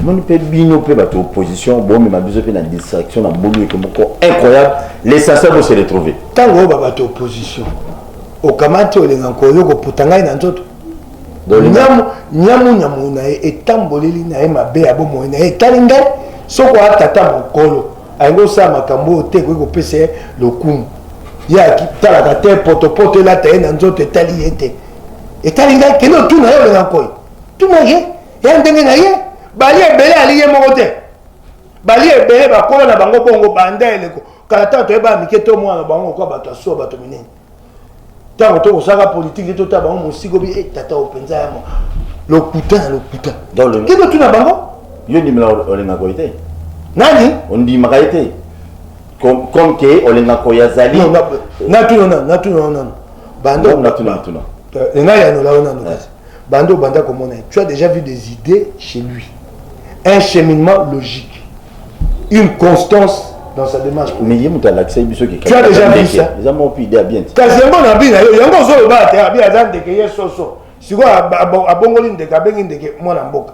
moni mpe bino mpe bato opposition bomema biso mpe na distraction na mbulu eke moko incroyable l'essentiel bose retrouve ntango oyo babato opposition okamati olinga nkoyo koputa ngai na nzoto nyamunyamu na ye etamboleli na ye mabe ya bomoi na ye etali ngai soko atata mokolo alingi osala makambo oyo te ekoki kopesa ye lokumu ye atalaka te potopoto elata ye na nzoto etali ye te etali ngai kende otuna ye olenga nkoi tuna ye ya ndenge na ye bali ebele ali ye moko te bali ebele bakola na bango bongo banda eleko kala ntango toyeba mike to mwana bango kwa bato asuwa bato minene ntango to kosaka politike te totala bango mosiko bi e tata oyo mpenza ya lokuta na lokuta kino tuna bango yo ndimela olingaka ye te nani ondimaka ye te comme ke olingaka oyo azali natuna nanu natuna nanu bandonatunatuna engai yanola yo nanu kasi banda obanda komona ye tu as déjà vu des idées chez lui un cheminement logique une constance dans sa démarche mais ye moto alakisa ye biso tu as déjà vu ça eza moko mpe idée ya bien te kasi yango na bi na yo yango ozoloba te abi aza ndeke ye soso sikoyo abongoli ndeke abengi ndeke mwana mboka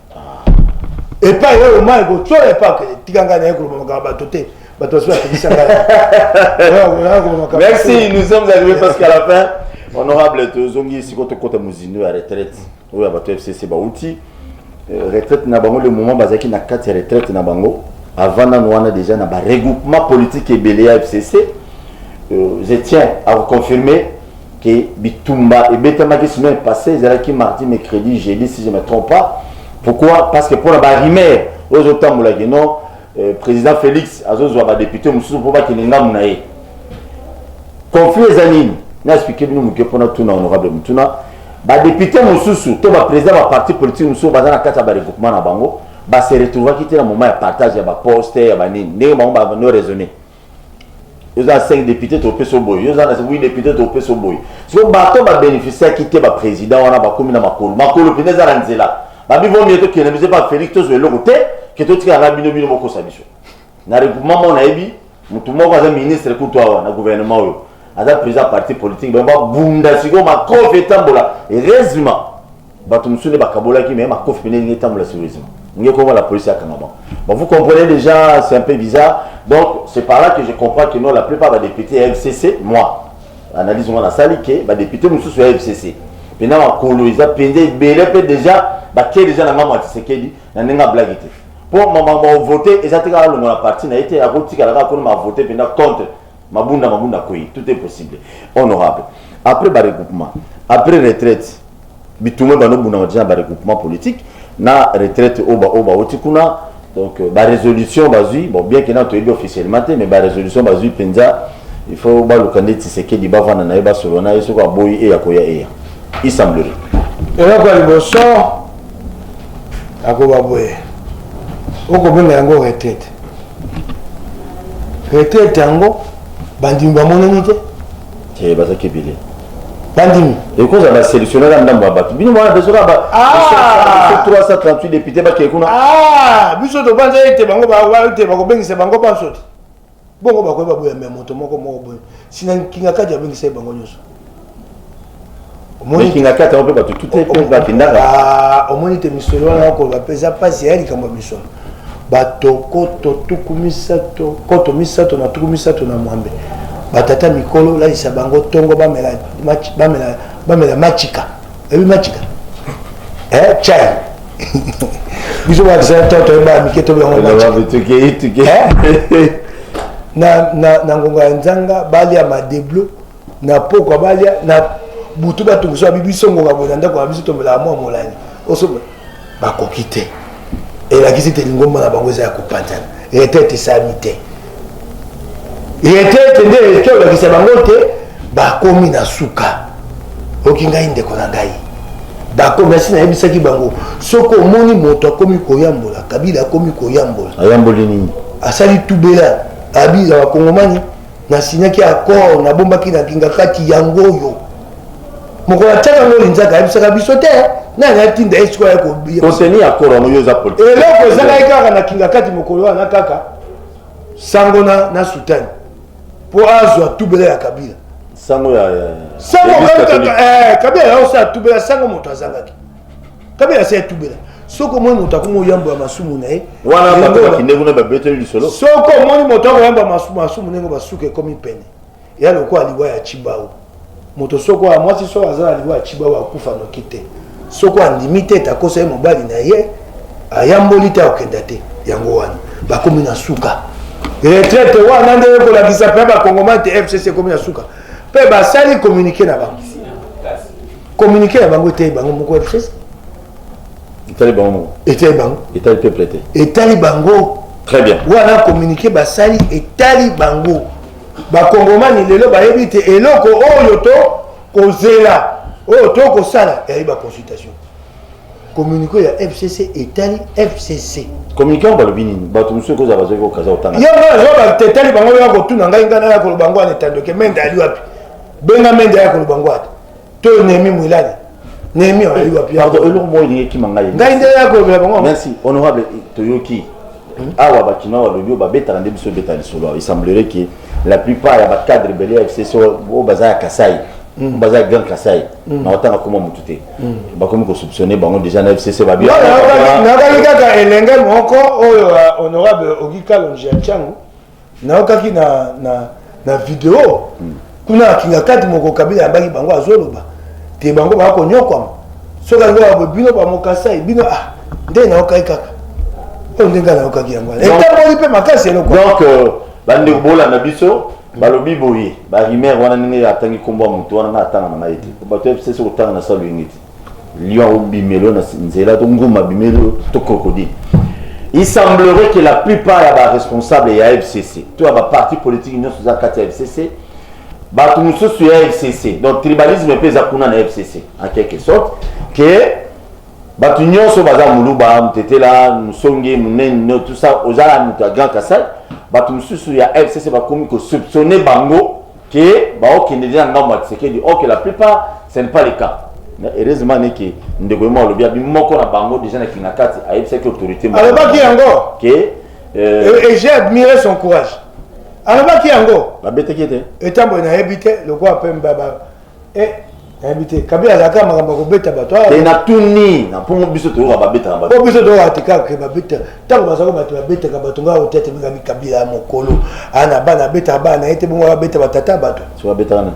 epai ye omai kotyola epai akende tika ngai naye koloba makambo bato te bato basusu bakebisa ngaimexi nous sommes arrivé presque à la fin honorable tozongi sikoyo tokota mozindo ya retraite oyo ya bato fcc bauti euh, retraite na bango le moment bazalaki na kati ya retraite na bango avant nano wana déjà na baregroupement politique ebele ya fcc euh, je tiens à reconfirmer que bitumba ebetamaki semaine passée ezalaki mardi mercredi jeudi si je me trompe pas pourquoi parce que mpona barimere oyo ezotambolaki non euh, président félix azozwa badepute mosusu mpo bakende ngambo na ye conflit eza nini naexplike bino moke mpona tuna honorable motuna badepute mosusu to baprésident ya baparti politique mosusu baza na kati ya baregroupement na bango base retrouvaki te na moment ya partage ya baposte ya banini ndenge bango bano raisonne yo oza 5 député topesa oboye yo oza na 8 député topesa oboye siko bato babénéficiaki te baprésident wana bakomi na makolo makolo mpenza eza na nzela babi vomi ete okende biso epa félix tozwa eloko te ke totikala na bino bino bokosa biso na regroupement moko nayebi motu moko aza ministre kutu awa na gouvernement oyo aza président ya parti politique bango babunda sikoyo makofi etambola heureusement bato mosusu nde bakabolaki me makofi pene elingi etambola sérieusement ndenge koma la police akanga bango bon vous comprenez déjà c'est un peu bizarre donc c'est par là que je comprends que non la plupart badéputé ya fcc moi analyse ngo nasali ke badéputé mosusu ya fcc mpena makolo eza mpenza ebele mpe déjà batie déjà na ngambo ya tisekedi na ndenge ya blage te mpo makambo ya vote eza te kaka longola parti na ye te akotikala kaka kuna mavote mpenza contre Mabunda Mabunda Kweyi, tout est possible. Honorable, après ba regroupement, après retraite, bitumwe bano bunama déjà ba regroupement politique na retraite oba oba oti kuna donc euh, ba résolution bazui bon bien que na toyebi officiellement te mais ba résolution bazui penza il faut baluka nde Tshisekedi bavanda na ye basolo na ye soki aboyi eya koya eya il semblerait eloko ya liboso akoba boye okobenga yango retraite retraite yango bandimi bamonani te eh, bazaki ebele bandimi ekozala na selectionne ka ndambo ya bato bino wana desoka 338 depute bakei kuna ah, biso tobanza ete bango ete bakobengisa bango banso te bongo bakoki baboyambe ya moto moko moko boye sina nkinga kati abengisa ye bango nyonso omoni kingakati yango mpe bato tute mpe bakendaka ah, omoni te misolo wana nakoloba mpe eza mpasi ya likambo ya misolo bato koto tuku misato koto misato na tuku misato na mwambe batata mikolo lalisa bango ntongo bamela, bamela, bamela machika ebi machika eh, chai biso bakisa toto ebaa mike tobeyangonagonga ya nzanga balia madeblo na pokwa balia na butu batungisa bibi songoka boye na ndako na biso tomelaka mwa molai osoba bakoki te elakisi te lingomba na bango eza ya kopanzana retete esami te retete nde eleki olakisa bango te bakomi na suka oki ngai ndeko na ngai bakomi asi nayebisaki bango soki omoni moto akomi koyambola kabila akomi koyambola ayamboli nini asali tubela abila bakongomani na signaki accord nabombaki na kingakati yango oyo mokolo atiaka ngo linzaka ayebisaka biso te nani atinda ye sikoyo yakoteni accord yango yo eza politike eloko ezalaki kaka na kingakati mokolo wana kaka sango na, na sutani mpo azwa tubela ya kabila sango ya sango kaka eh, kabila yaosala tubela sango moto azangaki kabila asi atubela soki omoni moto akomi oyambo ya masumu na ye wana bato bakende kuna babeteli lisolo soki omoni moto akoyambo ya masumu ndenge basuka ekomi pene ya lokola liwa ya cibao moto soko ya mwasi soko aza na liwa ya cibao akufa noki te soko andimi te ete akosa ye mobali na ye ayamboli te akokenda te yango wana bakomi na suka retraite wana nde ekolakisa mpe bakongomani te fcc ekomi na suka mpe basali communike na bango communiqué na bango eteyi bango moko rdc etali bango moko etali bango etali peuple te etali bango très bien wana communiqué basali etali bango bakongomani lelo bayebi te eloko oyo to kozela oyo to kosala eyebi baconsultation communiqué ya fcc etali fcc communiqué yango balobi nini bato mosusu ekozala bazwaki kokaza kotanga yo ngai nazoba etali bango ya kotuna ngai ngai naya koloba yango wana etandoke mende ali wapi benga mende aya koloba yango ata to nehemi mwilali nehemi ayeli wapi pardon eloko moko elingi ekima ngai ngai nde yakobela bango merci honorable toyoki hmm? awa bakinois balobi oyo babetaka nde biso ebeta lisolo awa esemblerait ke la plupart ya bacadre bele ya fcc oyo baza ya kasai hmm. baza ya grand kasai hmm. na otanga koma motu te bakomi kosoupçonne bango déjà na fcc babiakaki kaka elenge moko oyo honorable ogikalonji ya ntango nayokaki na, na, na video mm. kuna na kingakati moko kabila yambaki bango azoloba te bango baya konyokwama soki alingi aa bino bamokasai bino ah, nde nayokaki kaka oyo ndenge nayokaki yango wana etamboli mpe makasi eloko donc euh, bandeko bolanda biso balobi boye barimer wana ndenge atangi nkombo ya moto wana ngai atanga na ngai te bato ya fcc kotanga na salo yenge te Lion abimelo na nzela to nguma abimelo to crocodile. Il semblerait que la plupart ya ba responsables ya FCC to ya ba partis politiques nyonso za kati ya FCC bato mosusu ya FCC donc tribalisme mpe eza kuna na FCC en quelque sorte que bato nyonso baza moluba mutetela musonge munene tout ça ozala moto ya grand kasai bato mosusu ya FCC bakomi ko soupçonner bango que baokende nde na ngambo ya Tshisekedi or que la plupart ce n'est pas le cas mais heureusement ne que ndeko yemo alobi abi moko na bango déjà na kingakati ayebisaki autorité moko alobaki yango que euh, et j'ai admiré son courage alobaki yango babetaki ete etambo nayebi te lokola mpe eh, nayebi te kabila azalaka makambo ya kobeta bato ah. te natuni na mpongo biso toyoka babetaka bato biso toyoka te kaka ke babeta ntango bazalaka bato babetaka bato ngai otia te mingami kabila ya mokolo ana ah, bana abetaka bana na ye te bongo abeta batata ya bato so abetaka nani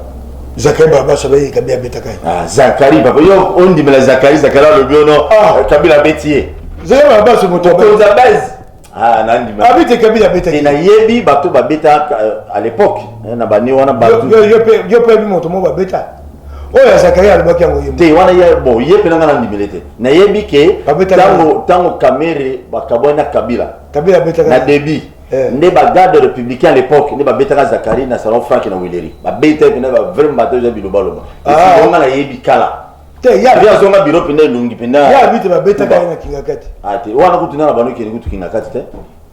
zakari barabasa bayei kabila abetaka ye ah, zakari papa yo ondimela zakari zakari alobi ono kabila abeti ye zakari barabasa moto okonza base Ah, abete kabila abetaki nayebi bato babeta euh, à l'époque hein, na bane wana yo mpe yebi moto moko babeta oyo ya zakaria alobaki yango ye te wana ye bon ye mpe nanga nandimele te nayebi ke ntango kamere bakabwani na kabila kabila abetaka na débit eh. nde bagarde républicain à l'époque nde babetaka zakari na salon frank na wileri babeta mpe na ba vraiment bato eza bilobaloba ah. onga nayebi kala te ya ya zonga biro penda elongi penda ya bite ba beta kaya na kinga kati ah te wana kutu na bano kele kutu kinga kati te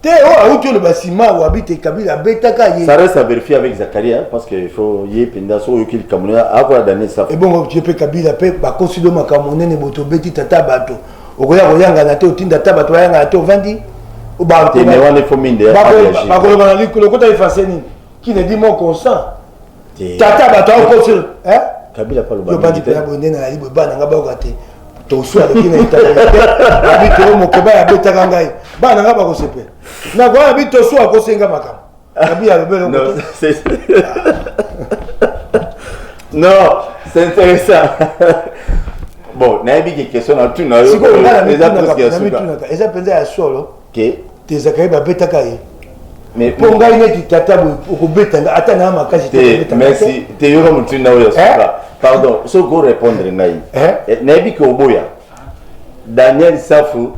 te o oh, auti le basima wa bite kabila beta kaya ça reste à vérifier avec Zakaria parce que il faut y penda so yokil kamuna akola dane ça et bon je pe kabila pe ba consido makamone ne boto beti tata bato okoya koyanga na te otinda tata bato yanga na te ovandi ba te ne wana faut minde ba ko ba ko ba ko ta effacer nini qui ne dit mon consent tata bato akosi eh? kabila pa loba bandi pe abo ndena ali boba na ngaba ko te to so ale kina ita abi to mo ko ba ya beta ka ngai ba na ngaba ko sepe na ko abi to so ko senga makam abi ya bebe no c'est no c'est intéressant bon nayebi ke question na tuna yo eza mpenza ya solo ke te zakari babetaka ye Mais- mpo ngai neti tata boye okobeta nga ata naa makasi te te okobeta nga merci te. te yoka motinda oyo ya Eh? suka pardon soki orépondre ngai Eh? Eh, nayebi ke oboya daniel safu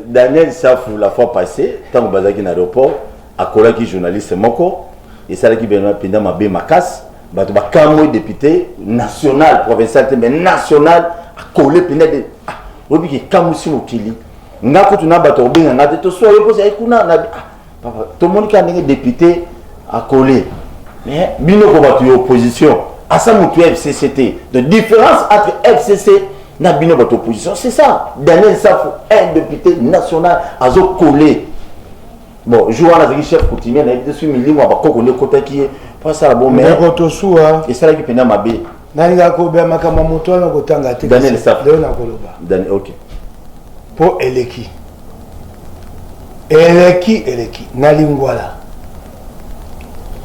daniel safu la fois passé ntango bazalaki na aéroport akolaki journaliste moko esalaki bena mpenza mabe makasi bato bakamwe député national provincial te mais national akole mpenza de ah, oyebi ke ekamwisi mokili nga kutu na bato kobenga nga te toswa yo mposa ye kuna na ah, papa tomoni kaka ndenge député akole mais bino ko bato ya opposition asa motu ya fcc te donc différence entre fcc na bino bato opposition c'est ça daniel safo un député national azokole bon jour wana azalaki chef coutumier nayebi te soki milimo ya bakoko nde ekotaki ye mpo asala bo mais esalaki mpenza mabe nalingaka kolobela makambo ya moto wana kotanga te Daniel Safu. leo nakoloba Dani- ok mpo eleki eleki eleki na lingwala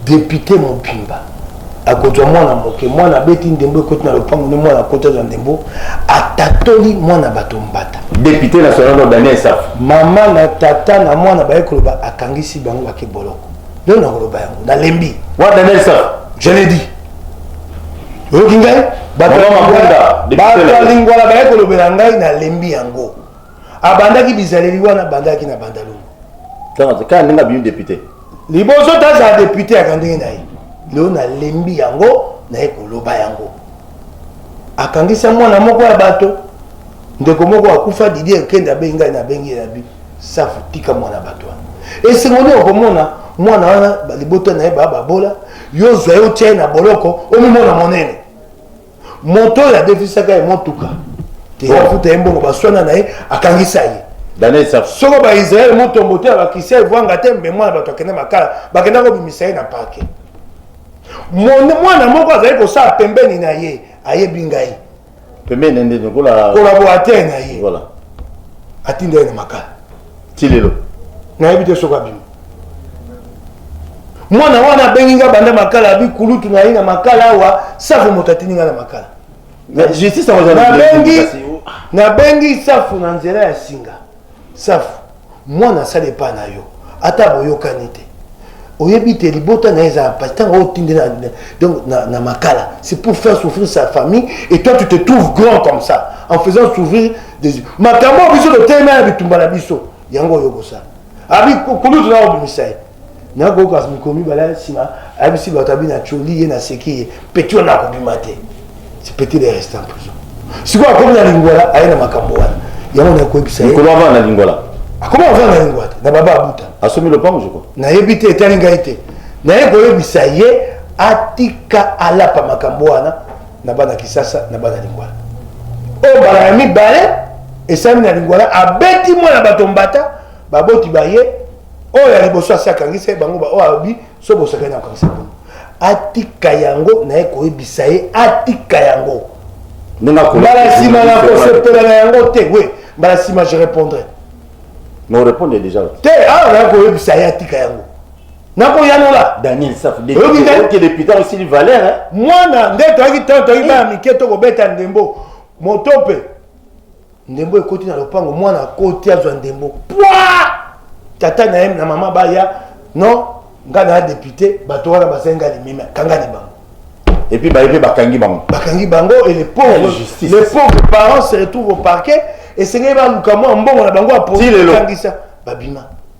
depute mobimba akozwa mwana moke mwana abeti ndembo ekoti na lopango nde mwana akoti azwa ndembo atatoli mwana bato mbata député national no daniel safu mama na tata na mwana baye koloba akangisi bango bake boloko leo nakoloba yango nalembi wana daniel safu je le dis oyoki ngai bato ya lingwala baye kolobela ngai nalembi yango abandaki bizaleli wana abandaki na bandalungu kaka ndenge abimi depute liboso tazala depute yaka ndenge na ye lelo nalembi yango naye koloba yango akangisa mwana moko ya bato ndeko moko akufa didie ekende abengi ngai nabengi ye na bi Safu tika mwana bato wana. Esengo nini okomona mwana wana libota na ye baa babola, yo ozwa ye otya ye na boloko, omimona monene. Moto oyo adefisaka ye motuka te oh. afuta ye mbongo baswana na ye akangisa ye. Soko Baisraele motombo te abakisi evwanga te mbe mwana bato akende makala bakenda kobimisa ye na parke. Mwana moko azali kosala pembeni na ye ayebi ngai pembeni na nde lokola collaborateur na ye voilà atinda ye na makala ti lelo nayebi te soki abimi mwana wana abengi nga banda makala abi kulutu na ye na makala awa safu moto atindi nga na makala nabengi safu na nzela ya singa safu mwana asali epai na yo ata boyokani te oyebi te libota na ye eza na mpasi ntango otindi donc na, na makala c'est pour faire souffrir sa famille et toi tu te trouves grand comme ça en faisant souffrir des makambo biso totelema na bitumba na biso yango oyo okosala abi kulutu na obimisa ye na kokas mikolo mibale ya nsima ayebisi bato abi na coli ye naseki ye peti wana akobima te peti de reste en prison sikoyo akomi na lingwala aye na makambo wana yango nakoyebisa mikolo avanda na lingwala akomi avanda na lingwala te na baba abuta asomi lopango joko nayebi te etali ngai te naye koyebisa ye atika alapa makambo wana na bana kisasa na bana lingwala oyo mbala ya mibale esami na lingwala abeti mwana bato mbata baboti ba ye oyo ya liboso asi akangisa ye bango baoyo alobi so bosakani akokangisa bango atika yango naye koyebisa ye atika yango mbala nsima na kosepela na yango te we mbala nsima je répondrai non répondre déjà te awa ah, naye koyebisa ye atika yango nakoyanola daniel safudeputa osili valeur mwana nde toyaki ntango toyaki bana mike tokobeta ndembo moto mpe ndembo ekoti na lopango mwana akoti azwa ndembo pwa tata na ye na mama baya non nga na depute bato wana basali nga limimi akangani bango epuis baye mpe bakangi bango bakangi bango et les pauvres justice les pauvres parents se retrouvent au parquet esengeli baluka mwa mbongo na bango ya polisi bakangisa babima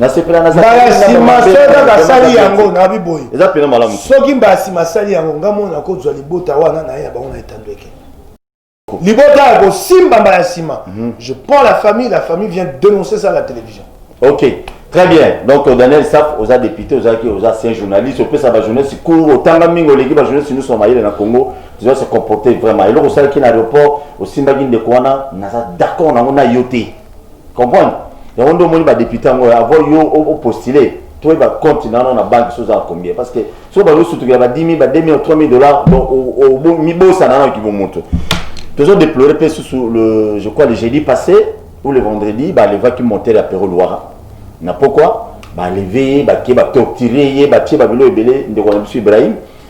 nasepela na mbala nsima soki kaka asali yango nabi boye eza mpena malamu soki mbala nsima asali yango nga mona nakozwa libota wana na ye ya bango na etando eke libota ya kosimba mbala nsima mhm. je prends la famille la famille vient dénoncer ça à la télévision ok très bien donc euh, daniel saf oza député ozalaki oza ancien journaliste opesa bajournaliste cour otanga mingi oleki bajournaliste nyonso ya mayele na congo oza se comporter vraiment eloko osalaki na aéroport osimbaki ndeko wana naza d'accord nango na yo te comprendre yango nde omoni badepute yango avant yo opostule toyeba compte nano na banque soki ozala combien parce que soki bazo sutukela ba 10 000 ba 2 000 3 000 dollars donc mibosana nano kibomoto tozo déplorer mpe susu le je crois le jeudi passé ou le vendredi balevaki monter ya pero luwara na pokwa baleve ye bake batortire ye batie babilo ebele ndeko na biso ibrahim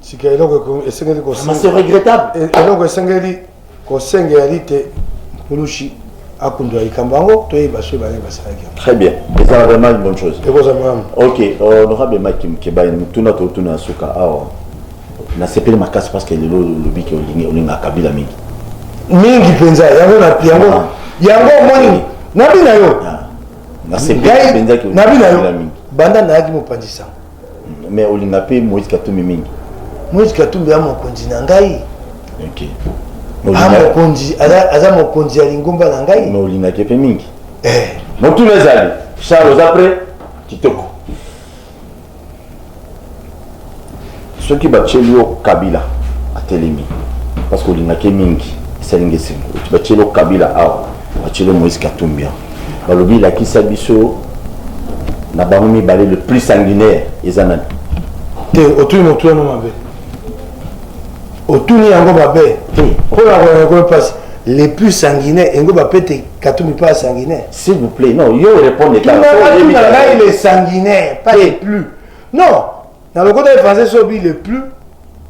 sika eloko esengeli eloko esengeli kosengela lite mulushi akundwa likambo yango toyeba soki baye basalaki yango très bien ezala vraiment une bonne chose ekozala malamu ok euh, honorable mike mkebaye motuna totuna ya suka awa nasepeli makasi parce que lelo olobi ke olinga kabila mingi mingi mpenza yango yango ah. yango omoni nabi na yo ah. nabi na yo banda nayaki mopanzi sango mais olinga mpe moïse katumbi mingi moïse katumbi ya mokonzi na ngai okay. Ah, mokonzi aza mokonzi ya lingomba na ngai mais olingaki mpe mingi eh. motuna ezali charles oza pre kitoko soki batyeli yo kabila atelemi parce que olingaki mingi esalingi esengo batyeli yo kabila awa Marcelo Moïse Katumbi balobi lakisa biso na bango mibale le plus sanguinaire eza nani te otuni motu wana mabe otuni yango mabe mpo na koyangakolo mpasi les plus sanguinaires engo bapete katumbi mpe asanguinaire s'il vous plaît non yo répondre ngai le sanguinaire pas les plus non na lokota ye français sobi le plus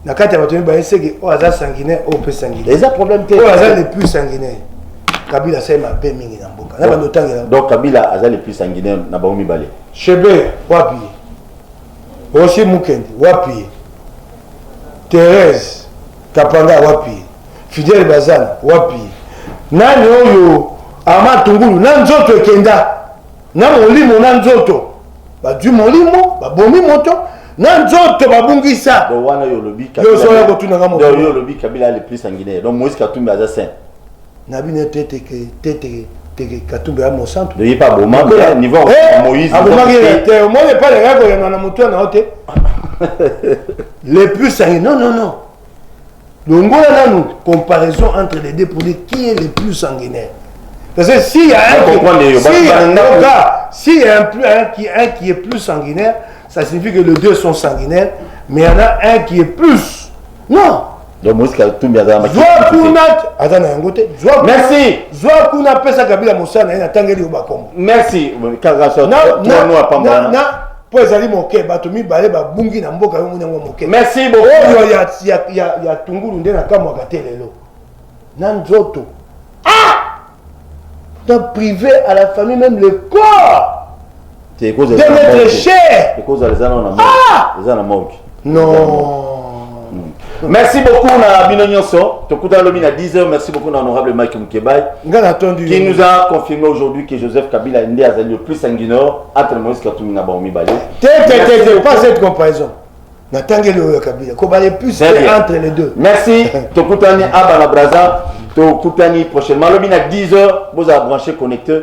na kati ya bato mibale seke oyo aza sanguinaire oyo mpe sanguinaire eza problème te oyo aza le plus sanguinaire kabila asali mabe mingi na mboka na bando otangela donc kabila aza le plus sanguinaire na bango mibale chebe wapi ye rosi mukende wapi ye therese kapanga wapi ye fidele bazana wapi ye nani oyo ama tungulu na nzoto ekenda Na molimo na nzoto bazwi molimo babomi moto na nzoto babungisa donc wana yo olobi yozoya kotunanga moto yo olobi kabila le plus sanguinaire donc moïse katumbi aza saint na bino teteke teteke teke katumbi ya mosantu ye mpe aboma niveau eh, moïse abomaki ye te omoni epai na yako yanga na moto na yo te le plus sangi non non non longola nanu comparaison entre les deux pour dire qui est le plus sanguinaire parce que s'il y a un qui, s'il y a, cas, s'il y a un, plus, un, qui, un qui est plus sanguinaire ça signifie que les deux sont sanguinaires mais il y en a un qui est plus non donc moïse katumbi azala zwa kuna aza na yango te merci zwa kuna apesa kabila mosala na ye natangeli yo bakombo merci po ezali moke bato mibale babungi na mboka yo moni yango moke merci beaucoup oyo ya, ya, ya, ya tungulu nde nakamwaka te lelo na nzoto ah na privé à la famille même le corps de notre cher ekozala eza na morgue non hmm. merci beaucoup na bino nyonso tokutana lobi na 10 heures merci beaucoup na honorable mike mukebai nga natondi qui nous a confirmé aujourd'hui que joseph kabila nde azali le plus sanguinaire entre moïse katumbi na bango mibale te te te te pas cette comparaison natangeli oyo ya kabila kobale plus entre les deux merci tokutani aba na braza tokutani prochainement lobi na 10 heures bozala branché connecteur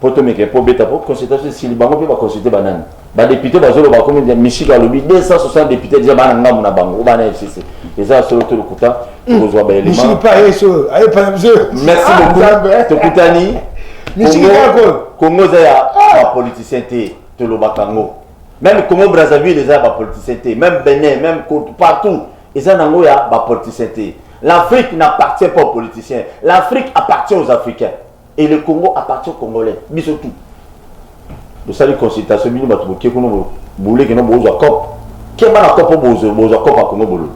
po tomeke po beta po consultation esili bango mpe baconsulte banani badepute bazoloba komi mishika alobi 260 depute deja bana ngambo na bango bana fcc eza solo to lokuta tokozwa baelementmerci beaucoup tokutani congo eza ya ah! bapoliticien te tolobaka yango meme congo brazzaville eza ya bapoliticien te meme benin meme partout eza nango ya bapoliticien te l'afrique n'appartient pas aux politiciens l'afrique appartient aux africains Et le Congo appartient aux Congolais. Biso tout. bosali consultation bino bato boke kuna boleki no bozwa cop keba na cop bozwa cop ya kongo bololo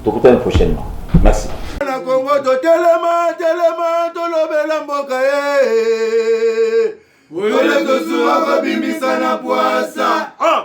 tokutani prochainement merci na kongo totelema telema tolobela mboka ye oyo tosuwa kobimisa na pwasa ah!